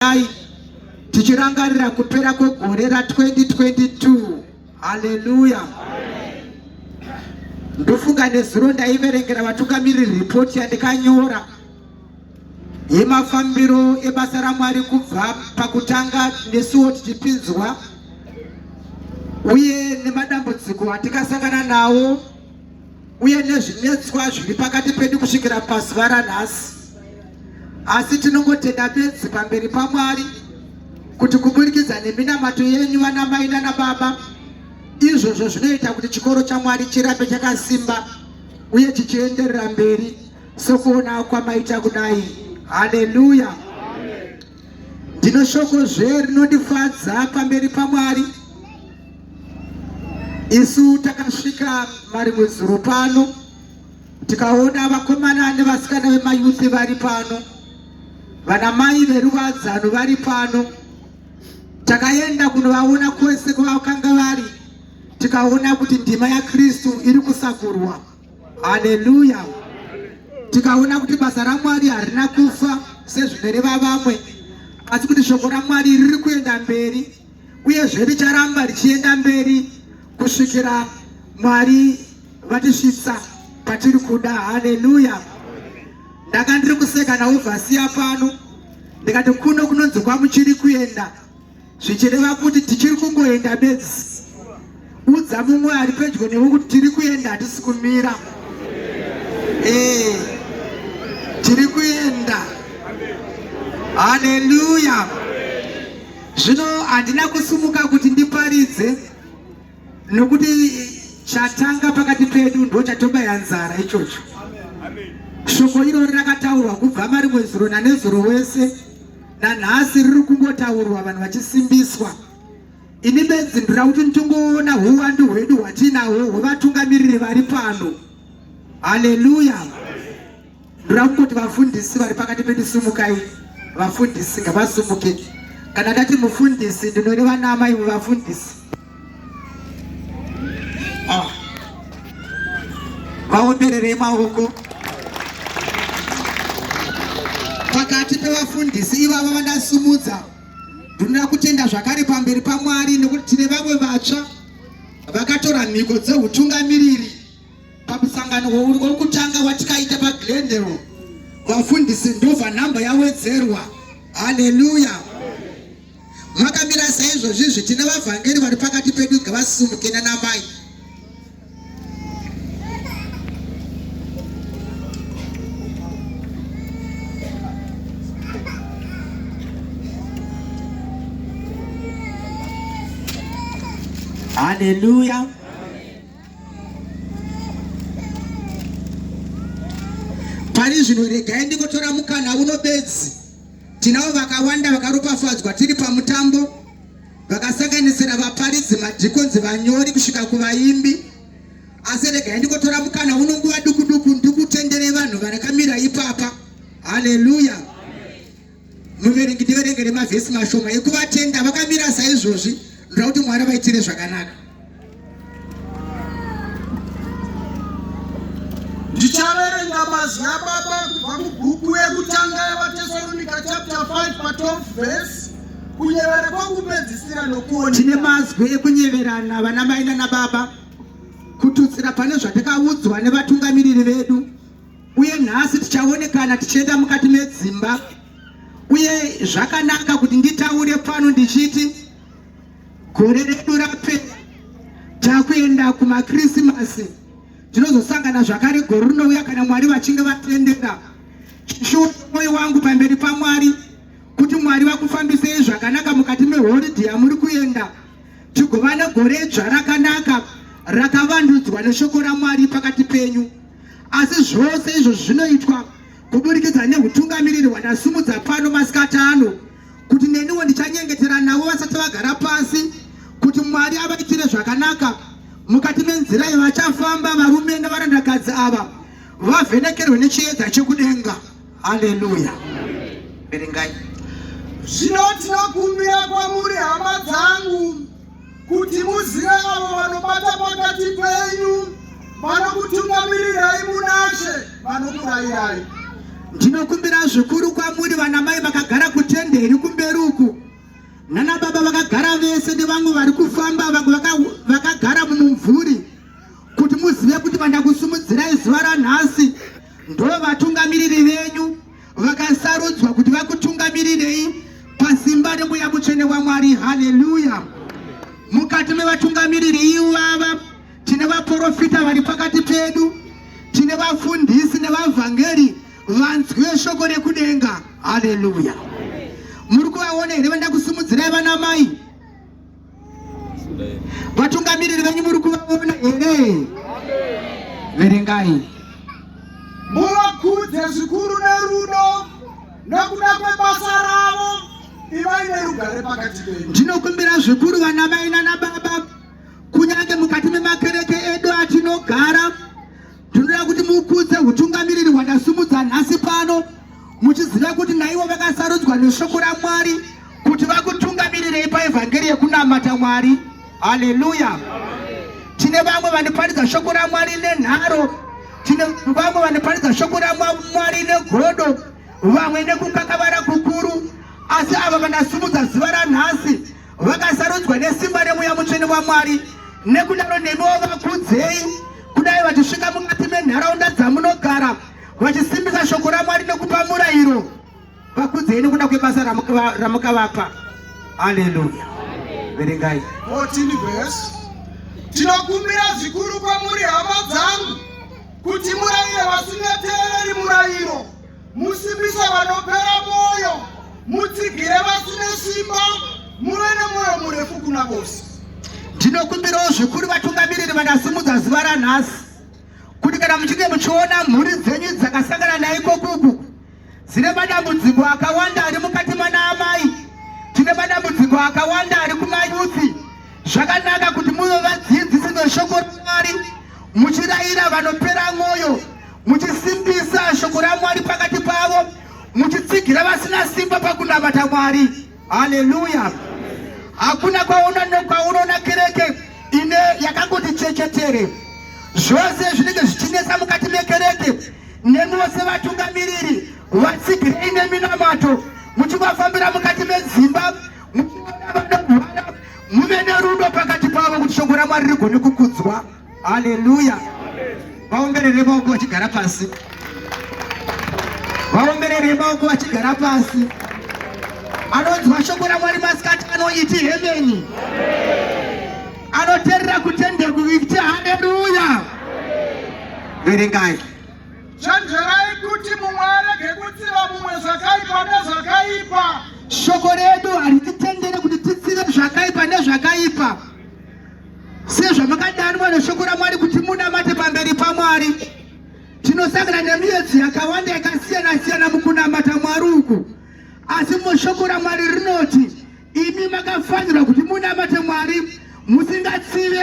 Dai tichirangarira kupera kwegore ra 2022 haleluya ndofunga nezuro ndaiverengera vatungamiri ripoti yandikanyora yemafambiro ebasa ramwari kubva pakutanga nesuwo tichipinzwa uye nemadambudziko atikasangana nawo uye nezvinetswa zviri pakati pedu kusvikira pazuva ranhasi asi tinongotenda bedzi pamberi pamwari kuti kuburikidza neminamato yenyu vana mai nana baba izvozvo zvinoita kuti chikoro chamwari chirambe chakasimba uye chichienderera mberi sokuona kwamaita kudai haleluya ndino shoko zve rinondifadza pamberi pamwari Isu takasvika mari mwezuro pano tikaona vakomana nevasikana vemayuthi vari pano, vana mai veruvadzano vari pano. Takaenda kunovaona kwese kwavakanga vari, tikaona kuti ndima yaKristu iri kusakurwa. Haleluya! Tikaona kuti basa raMwari harina kufa sezvinoreva vamwe, asi kuti shoko raMwari riri kuenda mberi. uyezve richaramba richienda mberi kusvikira mwari vatisvitsa patiri kuda haleluya ndanga ndiri kuseka nauvhasiya pano ndikati kuno kunonzi kwamuchiri kuenda zvichireva kuti tichiri kungoenda bedzi Udza mumwe ari pedyo newe kuti tiri kuenda hatisi kumira. Eh. Tiri kuenda. Hallelujah. Zvino handina kusumuka kuti ndiparidze nokuti chatanga pakati pedu ndo chatobaya nzara ichocho. Shoko irori rakataurwa kubva marimwe zuro nanezuro wese nanhasi riri kungotaurwa vanhu vachisimbiswa. Ini benzi ndira kuti nditongoona huwandu hwedu hwatinahwo hwevatungamiriri vari pano. Haleluya! Ndira kungoti vafundisi vari pakati pedu sumukai, vafundisi ngavasumuke. Kana ndati mufundisi ndinoreva naamai vevafundisi. Ah. Vaombererei maoko. Pakati pevafundisi ivavo vandasumudza Ndinoda kutenda zvakare pamberi paMwari nekuti tine vamwe vatsva vakatora mhiko dzehutungamiriri pamusangano wokutanga watikaita paGlendale. Vafundisi ndova nhamba yawedzerwa. Haleluya! Makamira saizvozvizvi tine vavhangeri vari pakati pedu ngavasimuke nanamai Haleluya. Pane zvinhu regai ndikotora mukana uno bedzi. Tinavo vakawanda vakaropafadzwa tiri pamutambo vakasanganisira vaparidzi, madhikonzi, vanyori kusvika kuvaimbi. Asi regai ndikotora mukana uno nguva duku duku ndikutenderei vanhu varakamira ipapa. Haleluya! Muverengi ndiverengere mavhesi mashoma ekuvatenda vakamira saizvozvi, ndoda kuti Mwari vaitire zvakanaka. Ndichaverenga mazwi aBaba kubva mubhuku yekutanga yevaTesalonika chapter 5 pa 12 verse kunyevera kwakupedzisira nokuona. Tine mazwi ekunyeverana vana mai nana baba kututsira pane zvatakaudzwa nevatungamiriri vedu uye nhasi tichaonekana tichienda mukati medzimba uye zvakanaka kuti nditaure pano ndichiti Gore redu rapera takuenda kumakrisimasi tinozosangana zvakare gore rinouya kana mwari vachinge vatendera chishuwo mwoyo wangu pamberi pamwari kuti mwari vakufambisei zvakanaka mukati mehoridhi yamuri kuenda tigova negore dzva rakanaka rakavandudzwa neshoko ramwari pakati penyu asi zvose izvo zvinoitwa kuburikidza neutungamiriri hwandasimudza pano masikati ano kuti neniwo ndichanyengetera navo vasati vagara pasi kuti mwari avaitire zvakanaka mukati menzira yavachafamba varume nevarandakadzi ava vavhenekerwe nechiedza chekudenga haleluya verengai zvino tinokumbira kwamuri hama dzangu kuti muzive avo vanobata pakati penyu vanokutungamirirai munashe vanokurayirai ndinokumbira zvikuru kwamuri vana mai vakagara kutende iri kumberi uku nana baba vakagara vese nevamwe vari kufamba vamwe vakagara mumumvuri kuti muzive kuti vandakusumudzirai zuva ranhasi ndo vatungamiriri venyu vakasarudzwa kuti vakutungamirirei pasimba remweya mutsvene wamwari haleluya mukati mevatungamiriri ivava tine vaprofita vari pakati pedu tine vafundisi nevavhangeri vanzwe shoko rekudenga haleluya muri kuvaona here vanda kusimudzirai vana mai Vatungamiriri venyu muri kuvaona here? Verengai. Muvakudze zvikuru nerudo nokuda kwebasa ravo, ivai nerugare pakati penyu. Ndinokumbira zvikuru vana mai nana baba, kunyange mukati memakereke edu atinogara Ndinoda kuti mukudze hutungamiriri hwandasumudza nhasi pano muchiziva kuti naivo vakasarudzwa neshoko raMwari kuti vakutungamirirei paevhangeri yekunamata Mwari. Haleluya! Tine vamwe vanoparidza shoko raMwari nenharo, tine vamwe vanoparidza shoko raMwari negodo, vamwe nekukakavara kukuru, asi ava vandasumudza zuva ranhasi vakasarudzwa nesimba remuya mutsvene wamwari nekudaro nemiwo vakudzei kudai vachisvika mukati menharaunda dzamunogara vachisimbisa shoko ramwari nekupa murayiro vakudzei nekuda kwebasa ramukavapa aleluya verengai tinokumbira zvikuru kwamuri hama dzangu kuti murayire vasingateereri murayiro Musimbise vanopera mwoyo, mutsigire vasine simba, muve nemwoyo murefu kuna vose. Ndinokumbirawo zvikuru vatungamiriri vakasimudza zuva ranhasi kuti kana muchinge muchiona mhuri dzenyu dzakasangana naikokuku dzine madambudziko akawanda ari mukati mana amai tine madambudziko akawanda ari kumayuthi zvakanaka kuti muve vadzidzisi veshoko ramwari muchirayira vanopera mwoyo muchisimbisa shoko ramwari pakati pavo muchitsigira vasina simba pakunamata mwari haleluya hakuna kwaunoona kereke ine yakangoti chechetere zvose zvinenge zvichinetsa mukati mekereke nemiwo sevatungamiriri vatsigirei neminamato muchivafambira mukati medzimba muchiona vanorwara muve nerudo pakati pavo kuti shoko ramwari rigone kukudzwa haleluya vaomberere maoko vachigara pasi vaomberere maoko vachigara pasi anonzwa shoko ramwari masikati anoiti hemeni anoterera kutendekuiti haleluya verengai Chenjerai kuti mumwe arege kutsiva mumwe zvakaipa nezvakaipa. Shoko redu harititendere kuti titsive zvakaipa nezvakaipa. Sezvamakadanwa neshoko raMwari kuti munamate pamberi paMwari, tinosangana nemiyedzo yakawanda yakasiyana-siyana mukunamata Mwari uku. Asi mushoko raMwari rinoti, imi makafanirwa kuti munamate Mwari musingatsive